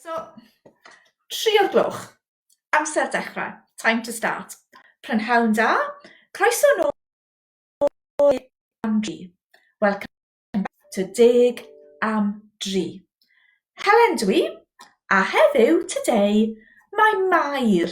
So, tri o'r gloch. Amser dechrau. Time to start. Prynhawn da. Croeso nôl am dri. Welcome back to deg am dri. Helen dwi, a heddiw, today, mae Mair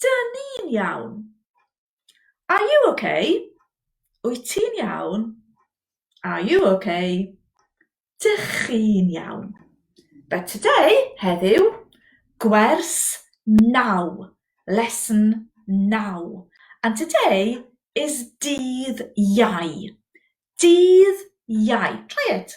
Dyn ni'n iawn. Are you ok? Wyt ti'n iawn? Are you ok? Dych chi'n iawn. But today, heddiw, gwers 9, lesson 9. And today is dydd Iau. Dydd Iau. Try it.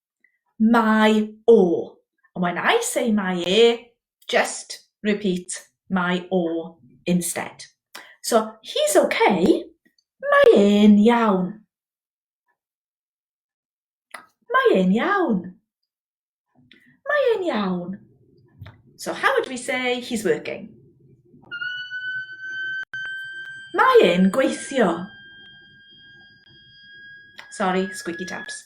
Mae o. And when I say mae e, just repeat mae o instead. So, he's okay, mae e'n iawn. Mae e'n iawn. Mae e'n iawn. So, how would we say he's working? Mae e'n gweithio. Sorry, squeaky taps.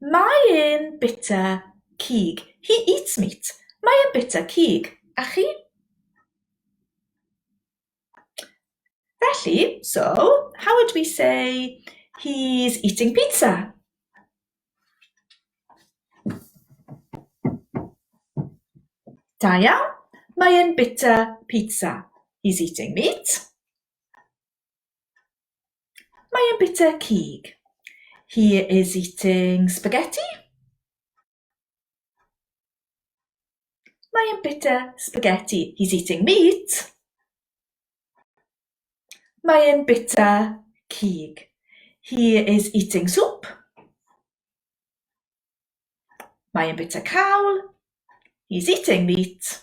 Mae e'n bita cig. He eats meat. Mae e'n bita cig. A chi? Felly, so, how would we say he's eating pizza? Da iawn. Mae e'n bita pizza. He's eating meat. Mae e'n bita cig. He is eating spaghetti. Mae e'n bita spaghetti. He's eating meat. Mae e'n bita cig. He is eating soup. Mae e'n bita cawl. He's eating meat.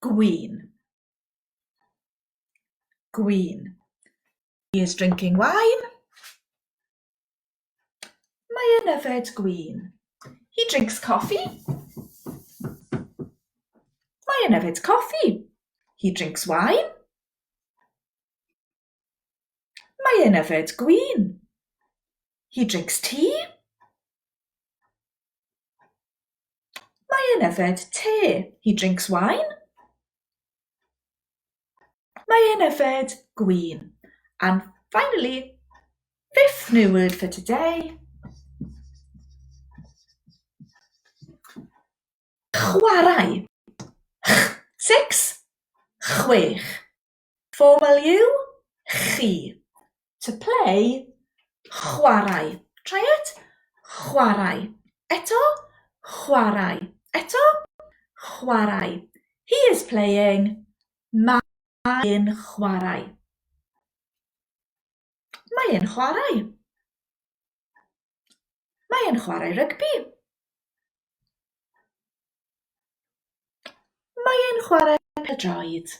Gwin. Gwin. He is drinking wine. Mae e'n yfed gwin. He drinks coffee. Mae e'n yfed coffi. He drinks wine. Mae e'n yfed gwin. He drinks tea. Mae e'n yfed te. He drinks wine. Mae e'n yfed gwin. And finally, fifth new word for today. Chwarae. Ch, six. Chwech. For value, chi. To play, chwarae. Try it. Chwarae. Eto, chwarae. Eto, chwarae. He is playing, mae'n chwarae. Mae'n chwarae. Mae e'n chwarae rygbi. Mae e'n chwarae pêl-droed.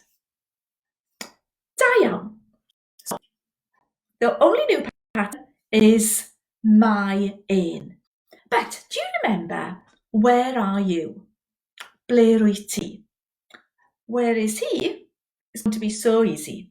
Da iawn. So, the only new pattern is mae e'n. But do you remember where are you? Ble rwy ti? Where is he? It's going to be so easy.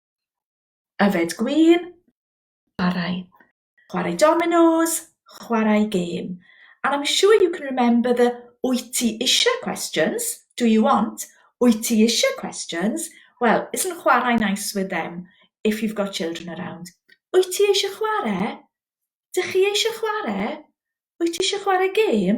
Yfed gwin. Chwarae. Chwarae dominos. Chwarae gêm. And I'm sure you can remember the wyt ti eisiau questions, do you want, wyt ti eisiau questions, well, isn't chwarae nice with them if you've got children around? Wyt ti eisiau chwarae? Dych chi eisiau chwarae? Wyt ti eisiau chwarae gêm?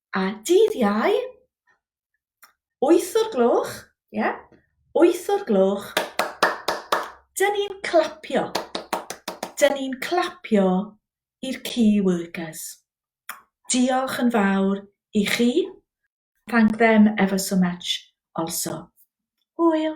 A dydd Iau, wyth o'r gloch, ie, yeah, wyth o'r gloch, dyn ni'n clapio. Dyn ni'n clapio i'r key workers. Diolch yn fawr i chi. Thank them ever so much also. Hwyl!